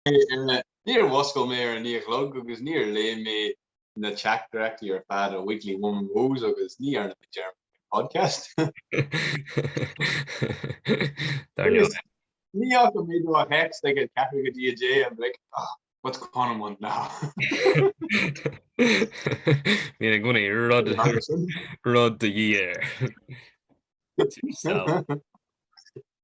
Níor mhuscail mé ar a naoi a chlog agus níor léigh mé na teachtaireachtaí ar fad ó Weekly Woman Woes agus ní dhearna mé dearmad faoin bpodcast. Dar leo. Ní fhaca mé do thext ag an ceathrú go dtí a deich I'm like, ah, what's Conan want now? Ní an gúna rud rud do dhí air.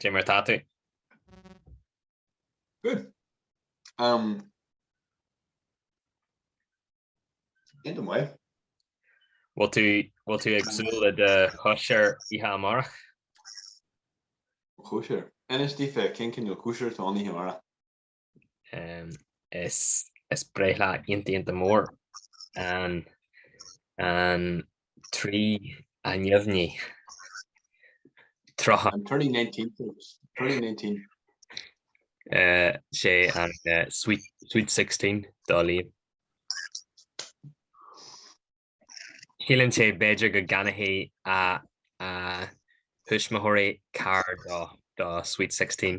Cé mar atá tú? Good. Um, in the way. Bhfuil tú, bhfuil tú ag súil le do chóisir oíche amárach? Cóisir? Inis daofa cén cineál cóisir atá ann oíche amárach? Is breithlá iontach iontach mór an 3 neamhní, 30. I'm turning nineteen folks, turning nineteen. Sé an sweet sixteen dar liom. Síleann sé b'fhéidir go gceannóidh a thuismitheoirí carr dó Sweet Sixteen.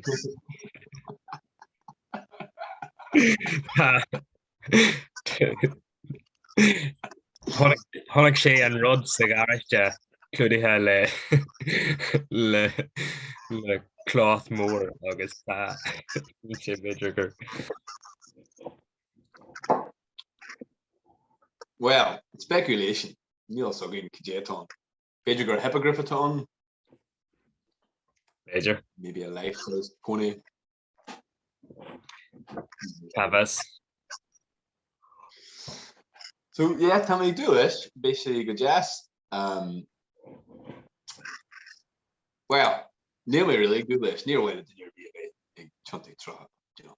Chonaic sé an rud sa gharáiste clúdaithe le cloth mór agus tá sé b'fhéidir gur. Bhuel, speculation, níl fhios againn cad é atá ann. B'fhéidir gur hippogriff atá ann? B'fhéidir. Maybe a life-sized pony. Cá bhfios? So, yeah, tá mé ag dúil leis, beidh sé go deas. Um, well, níl mé really ag dúil leis, níor mhaith le duine ar bith a bheith ag tiontú tríocha, do you know.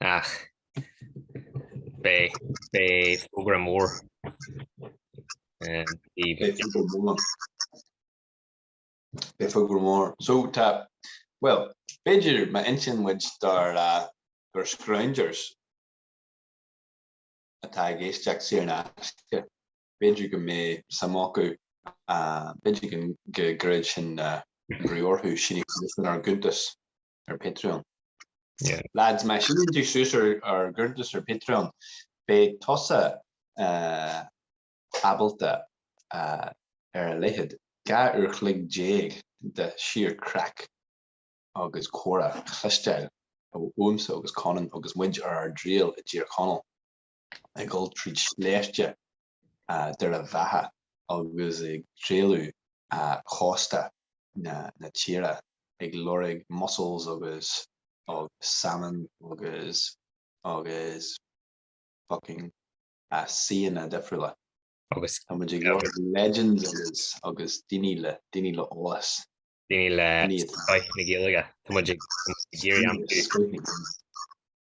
Ach beidh fógra mór Beidh fógra mór. So tá, bhuel, b'fhéidir má insíonn muid dár scroungers atá ag éisteacht saor in aisce, b'fhéidir go mbeidh suim acu, b'fhéidir go gcuirfidh sin brú orthu, síniú suas ar ár gcuntas ar Patreon. Lads, má shíneann tú suas ar ár gcuntas ar Patreon, beidh tusa ábalta ar a laghad dhá uair chloig déag de sheer craic agus comhrá a chloisteáil uaimse agus Conan agus muid ar ár dtriall i dTír Chonaill. ag dul tríd sléibhte Dhoire Bheatha agus ag trálú cósta na tíre ag lorg mussels agus salmon agus fucking suíomhanna difriúla. Tá muid ag lorg legends agus daoine le eolas. Daoine le scoth na Gaeilge. Tá muid ag iarraidh aimsiú.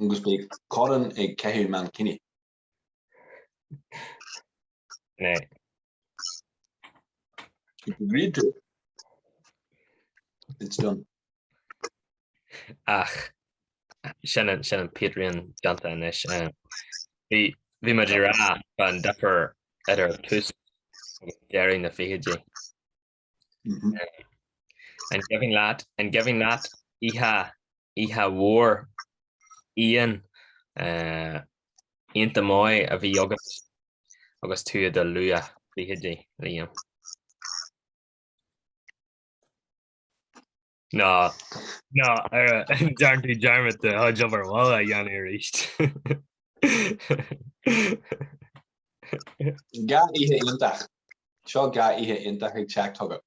Agus beidh Conán ag caitheamh mankini. Né. If you agreed to it, it's done. Ach sin an, sin an Patreon déanta anois. eh, Bhí bhí muid ag rá fan difear idir tús agus deireadh na fichidí. An gcuimhin leat, an gcuimhin leat oíche, oíche mhór fhiáin iontach maith a bhí agat agus tú i do luathfhichidí, Liam? Nó, nó an ndearn tú dearmad de do chuid obair bhaile a dhéanamh arís. Dhá oíche iontach. Seo dhá oíche iontach ag teacht chugat.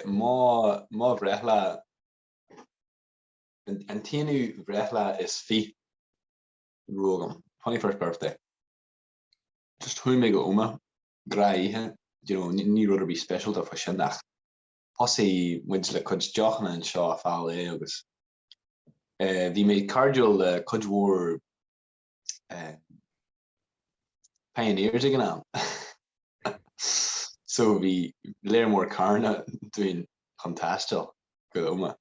Mo, mo bhreithlá, an t-aonú bhreithlá is fiche dá raibh agam, 21st birthday, just chuaigh mé go Omagh a chroí, you know, ní rud ar bith speisialta fá sin ach thosaigh muid le cuid deochanna anseo a fáil é agus eh bhí mé cairdiúil le cuid mhór eh pioneers ag an am so bhí lear mór carranna dúinn chun taisteal go Omagh.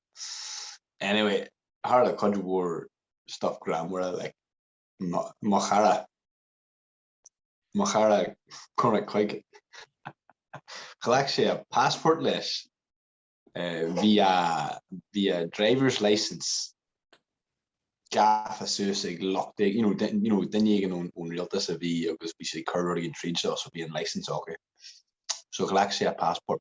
Anyway, tharla cuid mhór stuff greannmhara like mo chara, mo chara Cormac Quigg. Ghlac sé a passport leis, bhí a, bhí a driver's licence gafa suas ag lucht éigin, you know, you know duine éigin ón, ón rialtas a bhí agus bhí sé ag cur rud éigin tríd seo so bhí an licence acu. So ghlac sé a passport.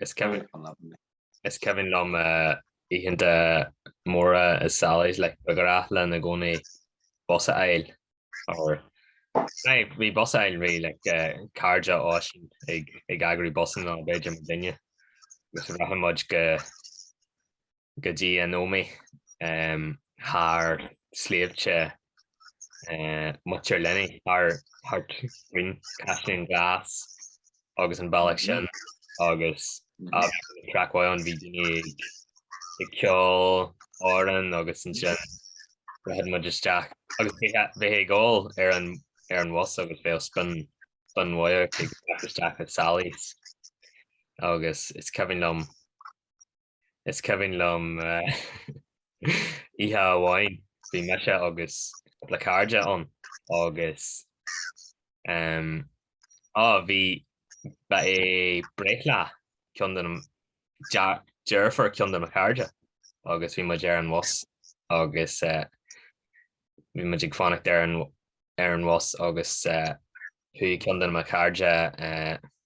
Is cuimhin liom oícheanta móra i Sally's like ba ghnách linn i gcónaí bus a fháil or like bhí bus a fháil really like cairde Oisín ag ag eagrú busanna b'fhéidir mo dhuine agus rachadh muid go go dtí an Ómaigh thar shléibhte Muintir Luinigh, thart ar an Chaisleán Glas agus an bealach sin agus craic mhaith ann, bhí daoine ag ceol amhrán agus ansin rachadh muid isteach agus bheifeá ag ól ar an bhus agus bheadh spin mhaith ort ag teacht isteach i Sally's agus is cuimhin liom, Is cuimhin liom oíche amháin, bhí mise agus cúpla cairde agus bhí, ba é breithlá cionn de mo, deirfiúr cionn de mo chairde agus bhí muid ar an bhus agus bhí muid ag fanacht ar an bhus agus chuaigh cionn de mo chairde,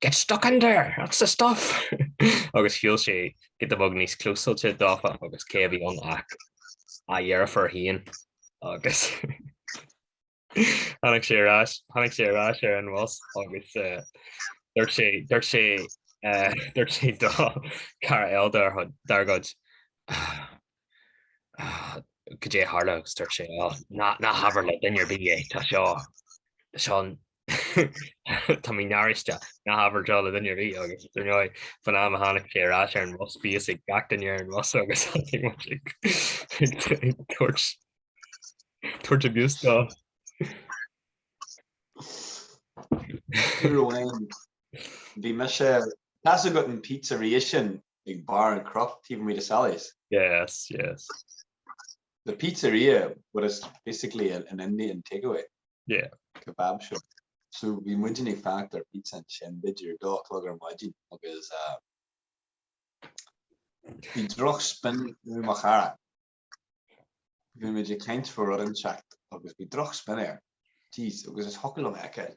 Get stuck in there! That's the stuff! agus shiúil sé giota beag níos clúsailte dófa agus cé a bhí ann ach a dheirfiúr féin agus tháinig sé ar ais, tháinig sé ar ais ar an bhus agus dúirt sé, dúirt sé, dúirt sé do cara eile dár gcuid, dár gcuid, goidé a tharla agus dúirt sé, oh, ná habair le duine ar bith é, tá seo, tá seo, Tá mé náirithe ná habair do le duine ar bith agus ar ndóigh fán am a tháinig sé ar ais ar an bhus bhí a fhios ag gach duine ar an bhus agus iad ag tabhairt tabhairt abuse dó. Ní raibh aon. Bhí mise. Tá a fhios agat an pizzeria sin ag barr an chnoic taobh amuigh de Sally's. Yes, yes. The pizzeria, but it's basically an Indian takeaway. Yeah. Kebab shop. So bhí muidinne ag fanacht ar pizza ansin b'fhéidir dó a chlog ar maidin agus bhí droch spin ar mo chara. Bhí muid ag caint fá rud inteacht agus bhí droch spin air. Jeez, agus ní thiocfadh liom a fheiceáil.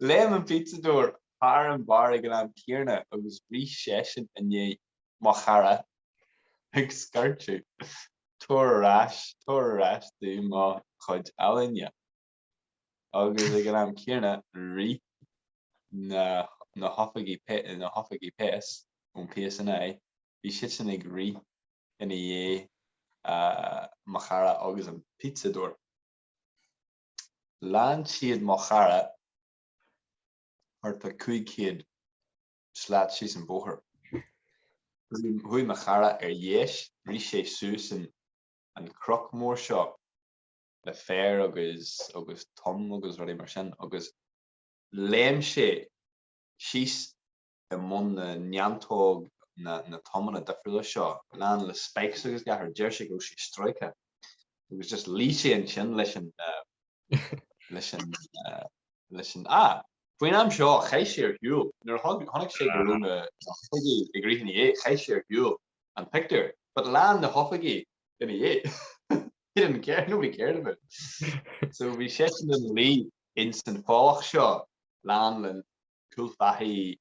Léim an pizzadóir thar an bheár ag an am céanna agus rith seisean i ndiaidh mo chara ag scairteadh, Tabhair ar ais, tabhair ar ais domh mo chuid ealaíne! Agus ag an am céanna rith na hoifigigh péas ón PSNI, bhí siadsan ag rith ina dhiaidh mo chara agus an pizzadóir. Lean siad mo chara thart fá 500 slat síos an bóthar. Chuaigh mo chara ar dheis, rith sé suas an cnoc mór seo le féar agus agus tom agus rudaí mar sin agus léim sé síos i mbun na neantóg na na tomanna difriúla seo, lán le spikes agus gach rud, deir sé go raibh sé stróicthe agus just luigh sé ansin leis an leis an leis an a Faoin am seo chaith sé ar shiúl nuair a chonaic sé go raibh na hoifigigh ag rith ina dhiaidh, chaith sé ar shiúl an pictiúr, but lean na hoifigigh ina dhiaidh. He didn't care, nobody cared about it. So bhí seisean ina luí ins an folach seo, lán le cúl faichí,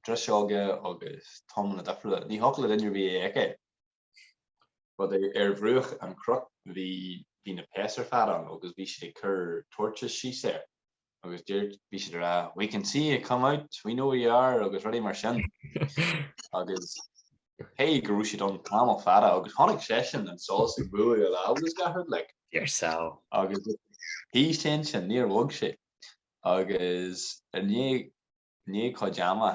driseoga agus tomanna difriúla. Ní thiocfadh le duine ar bith é a fheiceáil. But ar bhruach an chnoic bhí na péas ar fad ann agus bhí siad ag cur torches síos air agus bhí siad ag rá we can see you come out, we know where you are agus rudaí mar sin. Agus cé go raibh siad ann tamall fada agus chonaic seisean an solas ag bualadh a lámh agus gach rud like. Deir sé. Agus shuigh sé ansin, níor bhog sé. agus i ndiaidh cuid ama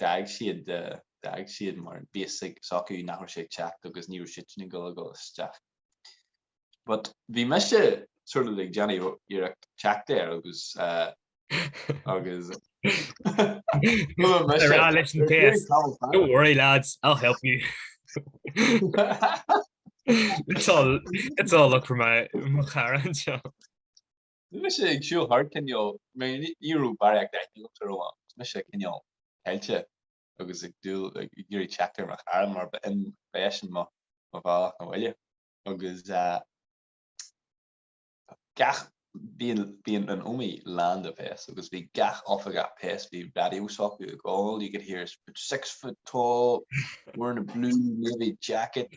d'fhág siad, d'fhág siad mar bhí fhios acu nach raibh sé ag teacht agus ní raibh siadsan ag dul ag dul isteach. But bhí mise sort of like ag déanamh iarracht teacht air agus eh, agus They're not listening to us. Don't worry, lads. I'll help you. it's all it's all look for my my current job. Bhí mise ag siúl thart cineál, mar ní raibh barraíocht de rogha agam, mise cineál caillte agus ag dúil, ag iarraidh teacht ar mo chara mar ba in ba eisean mo mo bhealach 'na bhaile agus gach, bhí an, bhí an an Ómaigh lán de péas agus bhí gach oifigeach péas, bhí raidió s'acu ag, all you could hear is six foot tall, wearing a blue navy jacket,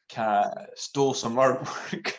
ca, stole some artwork.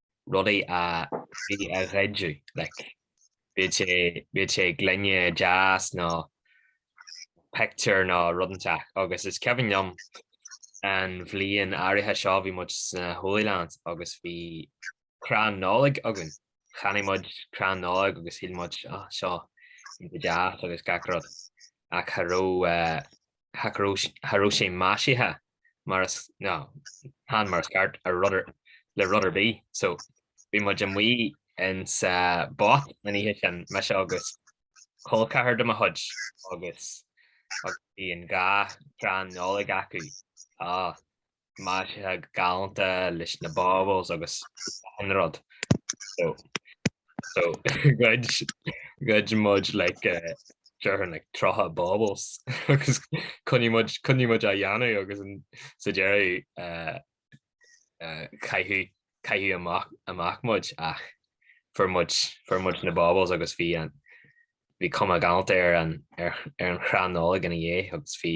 rudaí a bhí á ghoideadh, like, bíodh sé, bíodh sé gloine deas nó pictiúr nó rud inteach agus is cuimhin liom an bhliain áirithe seo bhí muid sna Holy Lands agus bhí crann Nollag againn, cheannaigh muid crann Nollag agus shíl muid, oh, seo iontach deas agus gach rud ach cha raibh. cha raibh sé maisithe mar is, nó chan mar is ceart, ar rud ar, le rud ar bith. So, bhí muid amuigh in sa Bot an oíche sin, mise agus col ceathar de mo chuid, agus, agus bhí an dhá chrann Nollag acu. Á. maisithe galánta leis na baubles agus achan rud so so ghoid ghoid muid like déarfainn like 30 baubles agus coinnigh muid coinnigh muid á dhéanamh agus an sa deireadh uh, uh, caitheadh caitheadh amach amach muid ach fuair muid fuair muid na baubles agus bhí an bhí cuma galánta ar an ar ar an chrann Nollag ina dhiaidh agus bhí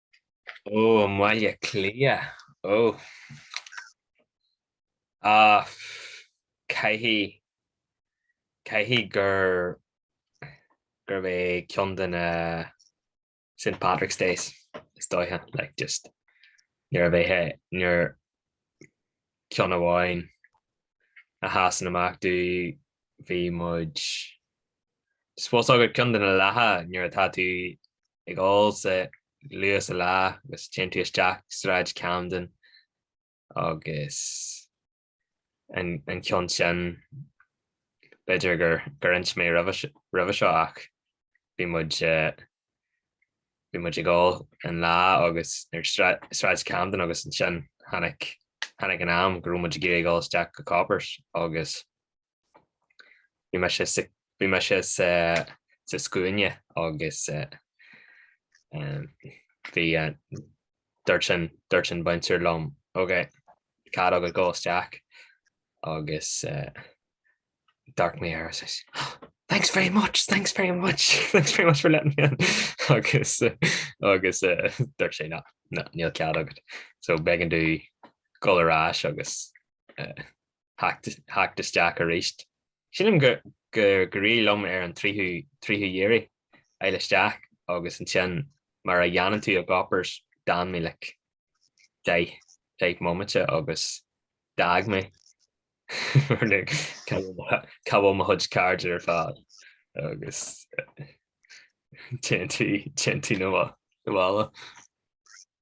Ó, i mBaile Átha Cliath, ó. Á, caithfidh, caithfidh gur, gurb é ceann de na St. Patrick's Days, is dóiche, like just, nuair a bheith, nuair, ceann amháin a sheasann amach domh, bhí muid, suppose, fhios agat, ceann de na laetha nuair atá tú Ag ól sa luath sa lá agus téann tú isteach Sráid Camden agus an ceann sin, b'fhéidir gur inis mé roimhe seo ach bhí muid, bhí muid ag ól an lá agus ar Shráid Camden agus ansin tháinig, tháinig an am go raibh muid ag iarraidh dul isteach go Coppers agus. Bhí mise sa bhí mise sa sa scuaine agus bhí dúirt an dúirt an bouncer liom ok cead agat dhul isteach agus d'amharc mé air is thanks very much thanks very much thanks very much for letting me in agus agus dúirt sé á níl cead agat so b'éigean domh dhul ar ais agus theacht isteach aríst. Sílim gur éirigh liom ar an tríú hiarraidh a fháil isteach agus ansin mar a dhéanann tú i gCoppers, d'fhan mé like deich mbomaite agus d'fhág mé mar like cá bhfuil mo chuid cairde ar fad agus téann tú na bhaile.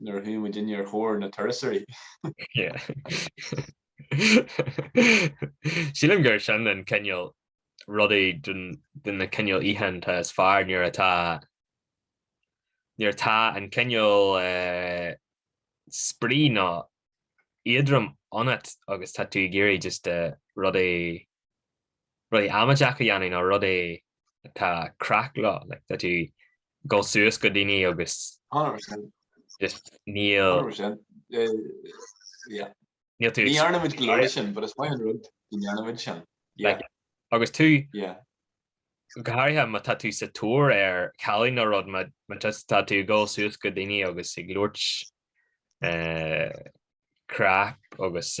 nuair a chuaigh muidinne ar thóir na turasóirí. Sílim gur sin an cineál rudaí de na cineál oícheanta is fearr nuair atá nuair atá an cineál eh, spraoi nó éadrom ionat agus tá tú ag iarraidh just eh, rudaí rudaí amaideacha a dhéanamh nó rud é atá craic leo, like tá tú ag dul suas go daoine agus just níl, níl tú, ní dhearnaimid go leor sin but is maith an rud nach ndéanaimid sin, yeah, agus tú, yeah, go háirithe má tá tú sa tóir ar chailín nó rud má just tá tú ag dul suas go daoine agus ag labhairt crap agus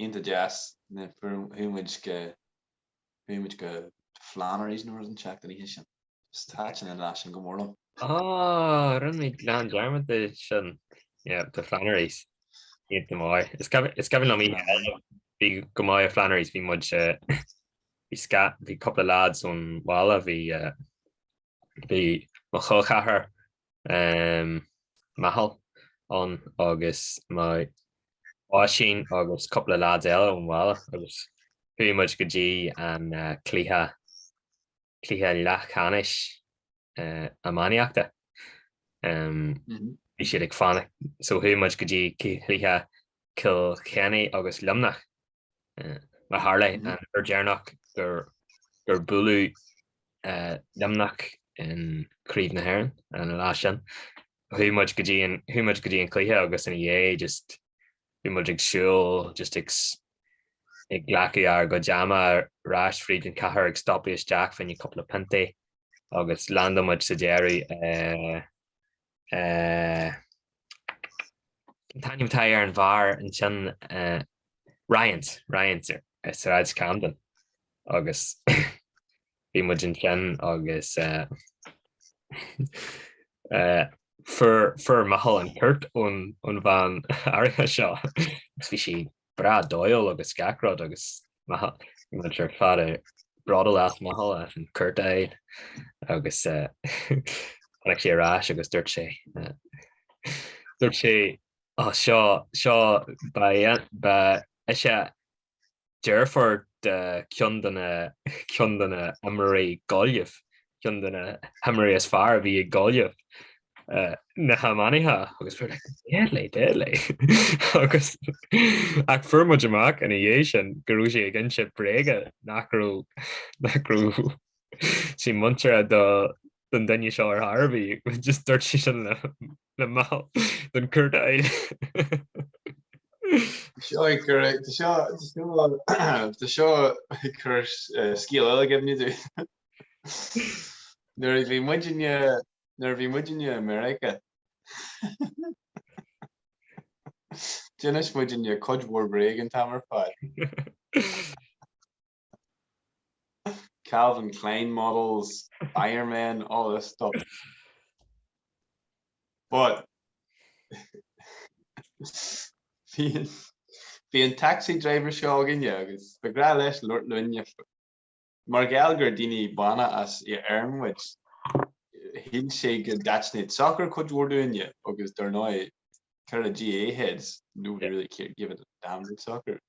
Ionta deas. Chuaigh muid go, chuaigh muid go Flannery's nó rud an tseachtain oíche sin. Is thaitin an lá sin go mór liom. Ah, rinne mé gan dearmad de sin. Yeah, go Flannery's. Iad go mór. Is cuimhin, is cuimhin liom oíche eile, bhí muid i Flannery's, bhí muid eh, bhí sca, bhí cúpla lads ón bhaile, bhí eh, bhí mo chol-cheathair Micheál ann agus Oisín agus cúpla leaids eile ón bhaile agus chuaigh muid go dtí an cluiche, cluiche leathcheannais iománaíochta. Bhí siad ag fanacht, so chuaigh muid go dtí cluiche Cill Chainnigh agus Luimneach. Mar a tharla, an uair deireanach gur buaileadh Luimneach in Craobh na hÉireann an lá sin, chuaigh muid go dtí an, chuaigh muid go dtí an cluiche agus ina dhiaidh just bhí muid ag siúl just ag ag glacadh ár gcuid ama ar ais fríd an chathair ag stopadh isteach, fá choinne cúpla pionta agus landáil muid sa deireadh Cén t-ainm atá ar an bhar ansin Ryans, Ryans ar Shráid Camden agus bhí muid ansin agus fuair Micheál an chúirt ón bhean áirithe seo. Bhí sí breá dóighiúil agus gach rud agus muid ar fad bródúil as Micheál as an chúirt a fháil agus tháinig sé ar ais agus dúirt sé dúirt sé Ó seo seo ba ba is ea deirfiúr de ceann de na ceann de na himreoirí Gaillimh ceann de na himreoirí is fearr a bhí ag Gaillimh na hamannaí agus fuair muid amach ina dhiaidh sin go raibh sí ag inse bréaga nach raibh sí muinteartha don duine seo ar chor ar bith. Just dúirt sí sin le le mall don curta eile. Seo chugaibh Tá seo tá seo tá seo chugaibh eh, scéal eile againn daoibh. Nuair a bhí muidinne nuair a bhí muidinne i Meiriceá. D'inis muidinne cuid mhór bréag an t-am ar fad. Calvin Klein models, Iron Man, all this stuff. But bhí an taxi driver seo againne agus ba ghrá leis labhairt linne. Mar gheall gur daoine bána as Éirinn muid, shíl sé go dtaitneodh soccer cuid mhór dúinne agus dar ndóigh, ceathrar GAA heads, nobody really give a damn about soccer.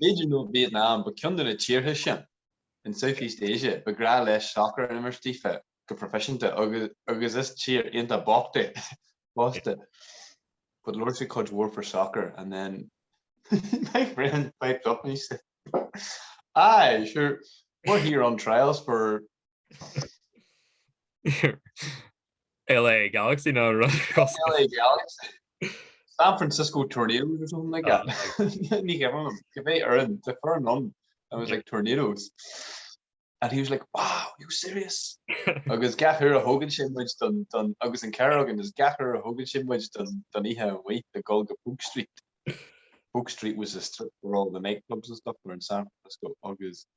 B'fhéidir as Vietnam nó ceann de na tíortha sin in Southeast Asia ba ghrá leis soccer, ní imríonn siad go proifisiúnta agus is tír iontach bocht í fosta but labhair sé cuid mhór faoi soccer and then my friend piped up and he said aye sure we're here on trials for LA Galaxy nó rud cosúil. LA Galaxy. San Francisco Tornadoes or something like that. Ní cuimhin liom. Cibé fhoireann, cibé foireann. I was like Tornadoes. And he was like wow, are you serious? Agus gach uair a thógann sé muid don, don, agus an ceathrar againn, agus gach uair a thógann sé muid don, don oíche, bheadh muid ag dul go Polk Street. Polk Street was a strip where all the nightclubs and stuff were in San Francisco agus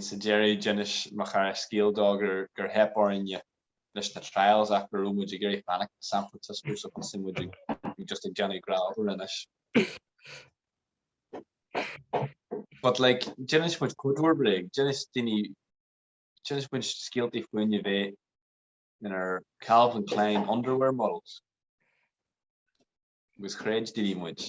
Sa deireadh, d'inis mo chara scéal dó gur theip orainne leis na trials ach go raibh muid ag iarraidh fanacht i San Francisco so thosaigh muid ag just ag déanamh gnáthrud anois. But like, d'inis muid cuid mhór bréag, d'inis daoine, d'inis muid scéaltaí fúinne bheith inár Calvin Klein underwear models agus chreid daoine muid.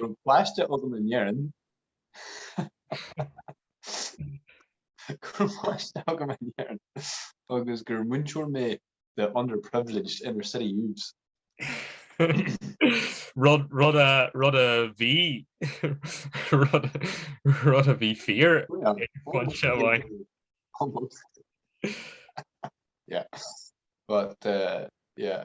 Raibh páiste agam in Éirinn. Raibh páiste agam in Éirinn agus gur múinteoir mé de underprivileged inner city youths. Rud a bhí rud a bhí fíor pointe amháin. Almost. Yeah. But, uh, yeah.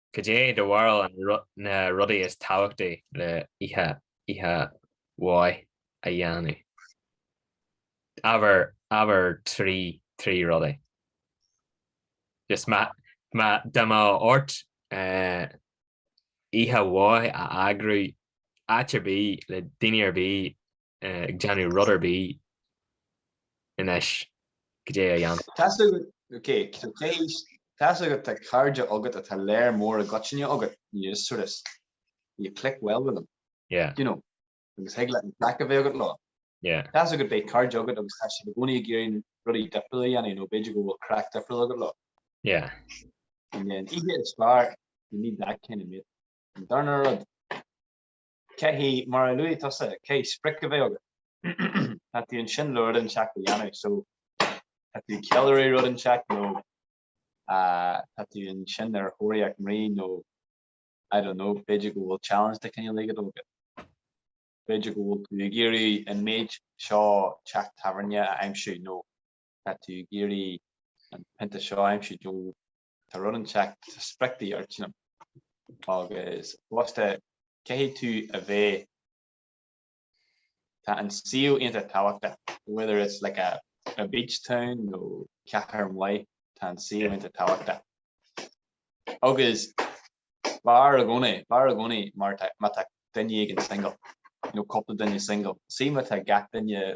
Cad é do bharúil ar na rudaí is tábhachtaí le oíche mhaith a dhéanamh? Abair trí rudaí. Dá mbeadh ort oíche mhaith a eagrú áit ar bith le daoine ar bith ag déanamh rud ar bith anois, goidé a dhéanfá? Tá's agat, ok, céist, tá's agat tá cairde agat atá léar mór i gcoitinne agat, you just sort of, you click well with them, yeah, you know, agus thig leat an craic a bheith agat leo, yeah, tá's agat beidh cairde agat agus tá siad i gcónaí ag iarraidh rudaí difriúla a dhéanamh nó b'fhéidir go bhfuil craic difriúil agat leo, yeah, and then oíche is fearr, you need that kind of mate, an darna rud, Caithfidh, mar a luaigh tusa, caithfidh sprioc a bheith agat? Tá tú ansin le rud inteacht a dhéanamh, so tá tú ag ceiliúradh rud inteacht nó tá tú ansin ar thóraíocht mná nó I don't know, b'fhéidir go bhfuil challenge de chineál éigin agat. B'fhéidir go bhfuil tú ag iarraidh an méid seo teach tábhairne a aimsiú nó tá tú ag iarraidh an pionta seo a aimsiú, Tá rud inteacht mar sprioc don oíche agus fosta caithfidh tú a bheith, tá an suíomh iontach tábhachtach, whether it's like a, a beach town nó cathair mhaith, tá an suíomh iontach tábhachtach agus b'fhearr i gcónaí, b'fhearr i gcónaí má tá, má tá duine éigin single nó cúpla duine single, see má tá gach duine,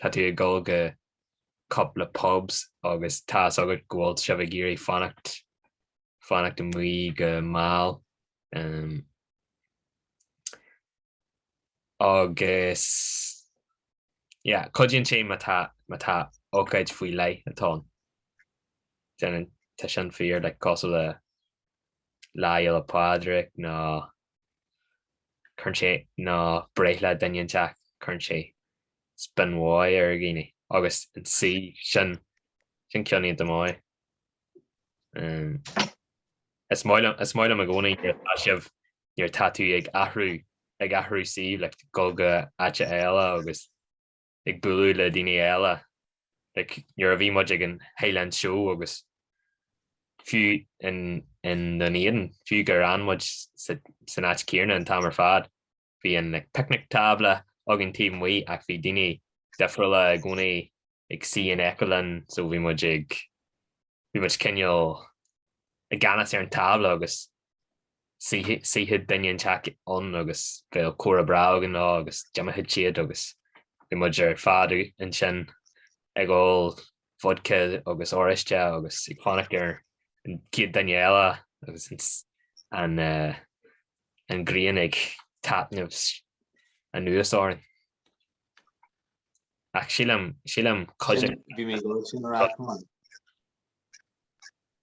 tá tú ag dul go cupla pubs agus tá fhios agat go bhfuil sibh ag iarraidh fanacht, fanacht amuigh go mall. Agus, yeah, cuidíonn sé má tá, má tá ócáid faoi leith atá ann. Déanann, tá sin fíor, like, cosúil le Lá Fhéile Pádraig nó. cuireann sé nó breithlá duine inteacht cuireann sé spin mháith ar dhaoine agus ansin sin ceann iontach maith is maith liom is maith liom i gcónaí tá's agat nuair atá tú ag athrú ag athrú suímh ag dul go go háit eile agus ag bualadh le daoine eile, like nuair a bhí muid ag an Highland Show agus fiú in, in nDún Éideann, fiú gur fhan muid sa, san áit chéarna an t-am ar fad, bhí an like picnic tábla againn taobh amuigh ach bhí daoine difriúla i gcónaí ag suí in aice linn so bhí muid ag, bhí muid cineál i gceannas ar an tábla agus shuífeadh duine inteacht ann agus bheadh comhrá breá againn leo agus d'imeodh siad agus bhí muid ar fad ansin ag ól vodka agus oráiste agus ag fanacht ar an chéad duine eile agus an ghrian ag taitneamh anuas orainn. Ach sílim, sílim, cuid. Bhí mé ag ól sin ar ais.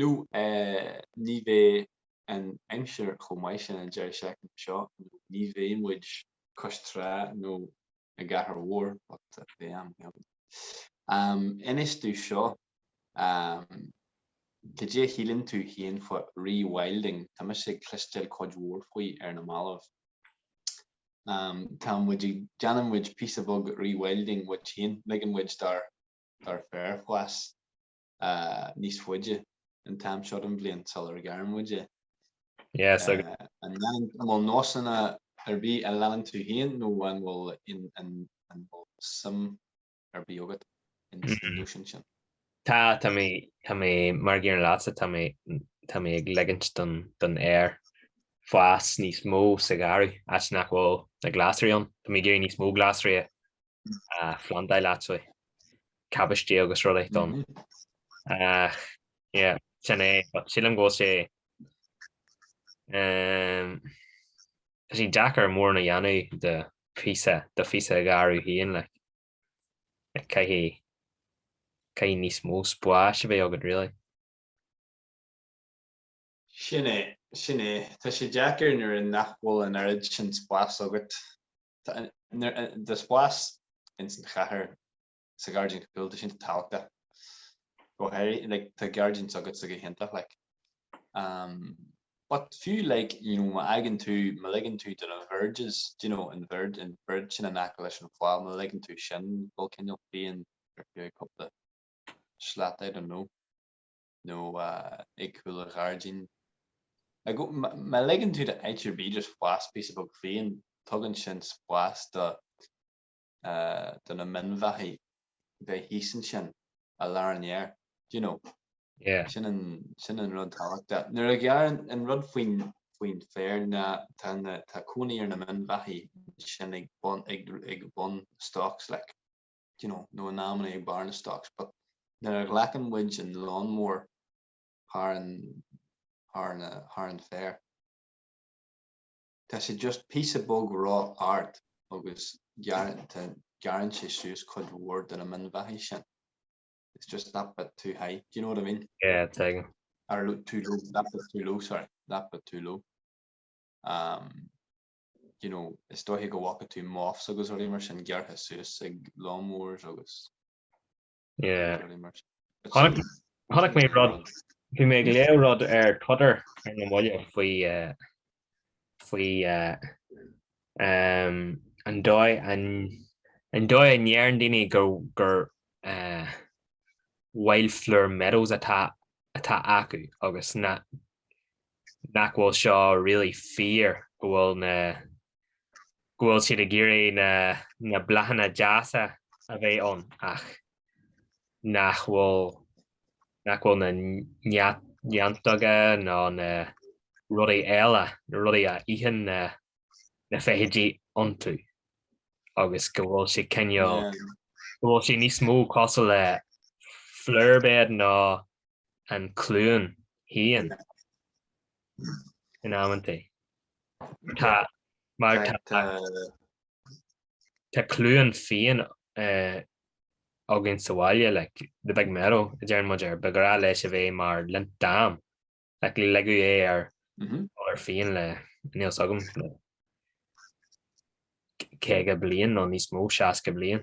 Nó ní bheidh an aimsir chomh maith sin an deireadh seachtaine seo, nó ní bheidh muid cois trá nó i gcathair mhór, but beidh am ann. Am inis domh seo, cad é a shíleann tú féin faoi re-wilding? Tá mise ag cloisteáil cuid mhór faoi ar na mallaibh. Tá muid ag, déanann muid píosa beag re-wilding muid féin, ligeann muid dár féar fás. níos faide an t-am seo den bhliain sula ngearrann muid é. Yes, aye. An bhfuil nósanna ar bith a leanann tú féin nó an bhfuil an bhfuil suim ar bith agat in na nósanna sin? Tá, tá mé, tá mé, mar a dhéarfainn leatsa, tá mé, tá mé ag ligint don, don fhéar fás níos mó sa gharraí, áit nach bhfuil na glasraí ann. Tá mé ag iarraidh níos mó glasraí a phlandáil, leithéidí cabáistí agus rudaí don ach yeah sin é but sílim go bhfuil sé umm tá sé deacair mórán a dhéanamh de phíosa de phíosa de gharraí féin like like caithfidh caithfidh níos mó spáis a bheith agat really. Sin é, sin é. Tá sé deacair nuair nach bhfuil an oiread sin spáis agat. Tá an spás ins an chathair sa ghairdín cúlta sin tábhachtach. Go háirithe, like, tá gairdín s'agatsa go hiontach, like. But fiú, like, you know, má fhaigheann tú, má ligeann tú do na verges, do you know, an verge, an verge sin in aice leis an fál, má ligeann tú sin dul cineál fiáin ar feadh cúpla slat, I don't know. nó ag cúl an ghairdín. Agus má ligeann tú do áit ar bith just fás píosa beag fiáin, tugann sin spás do na minbheathaigh bheith thíos ansin, i lár an fhéir, do you know? Yeah. Sin an rud tábhachtach. Nuair a ghearrann, an rud faoin féar ná tá cónaí ar na minbheathaigh ansin ag bun stocks like. you know, nó in amannaí ag barr na stocks but nuair a ghlacann muid an lawnmower thar an, thar na, thar an féar, tá sé just píosa beag ró ard agus gearrann, tá, gearrann sé suas cuid mhór de na min-bheathaigh sin. It's just that bit too high, do you know what I mean? Yeah, tuigim. Or too low, that bit too low, sorry, that bit too low. Um, you know, is dóichí go bhfaca tú moths agus rudaí mar sin gearrtha suas ag lawn mowers agus yeah. Chonaic, chonaic mé rud, bhí mé ag léamh rud ar Twitter ar na mallaibh faoi faoi an dóigh an an dóigh a ndeireann daoine gur gur wildflower meadows atá atá acu agus na nach bhfuil seo really fíor, go bhfuil na. go bhfuil siad ag iarraidh na. na bláthanna deasa a bheith ann ach nach bhfuil. nach bhfuil na neantóga nó na rudaí eile, na rudaí a itheann na. na feithidí iontu agus go bhfuil sé cineál. go bhfuil sé níos mó cosúil le flowerbed nó. an chluain fhiáin in amanntaí. Tá mar tá cluain fiáin againn sa bhaile like the big meadow a deireann muid air. Ba ghnách leis a bheith mar lint dam like ligeadh é ar ar fiáin le níl 's agam le 50 bliain nó níos mó, 60 bliain.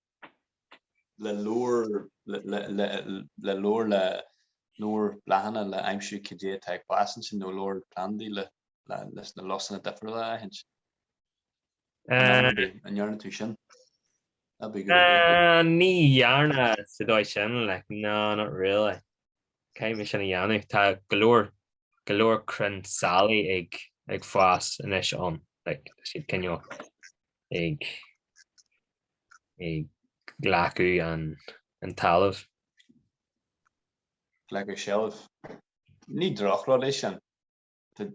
le leabhar le leabhar le leabhar bláthanna le aimsiú cad é atá ag fás ansin nó leabhar plandaí le leis na lusanna difriúla a aithint. An ndearna tú sin? That'd be a good idea. Ní dhearna sa dóigh sin like no not really. Caithfidh mé sin a dhéanamh. Tá go leor go leor crainn sailí ag fás anois ann like tá siad cineál ag glacadh an talamh. Glacadh seilbh. Ní drochrud é sin. Tá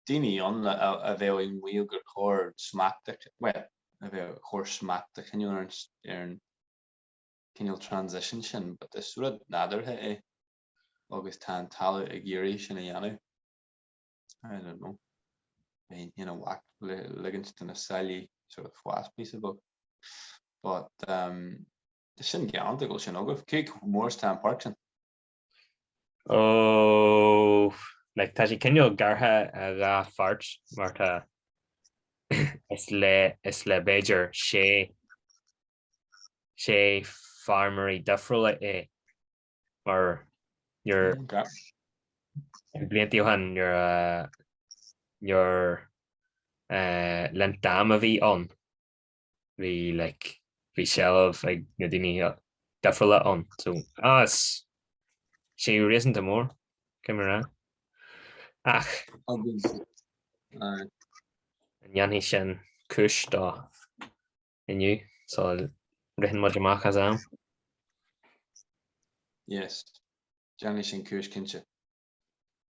daoine ann a bheadh ag maíomh gur chóir smacht a, bhuel, a bheith, chóir smacht a choinneáil ar an cineál transition sin but is rud nádúrtha é agus tá an talamh ag iarraidh sin a dhéanamh. I don't know. Bheinn, you know, i bhfách le ligint do na sailí sort of fás píosa beag. But um tá sin galánta go bhfuil sin agaibh. Cé chomh mór is tá an páirc sin. Oh like tá sé cineál gearrtha ina dhá pháirt mar tá is le is le b'fhéidir sé sé feirmeoirí difriúla é mar nuair, blianta ó shin, nuair a, nuair eh, le linn an ama a bhí ann, bhí like, bhí seilbh ag daoine difriúla ann, so ah, tá sé réasúnta mór, cé mar ea. Ach, Agus, aye. an ndéanfaidh sin cúis dó? inniu so rith muid amach as am. Yes, déanfaidh sin cúis cinnte.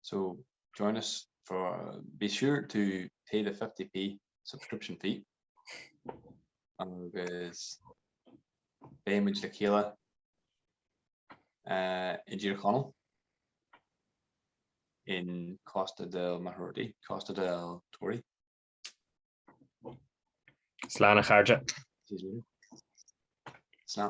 So join us for, be sure to pay the 50p subscription fee agus beidh muid le chéile uh, i dTír Chonaill in Costa del Marrorty, Costa del Tory. Slán a chairde. Slán.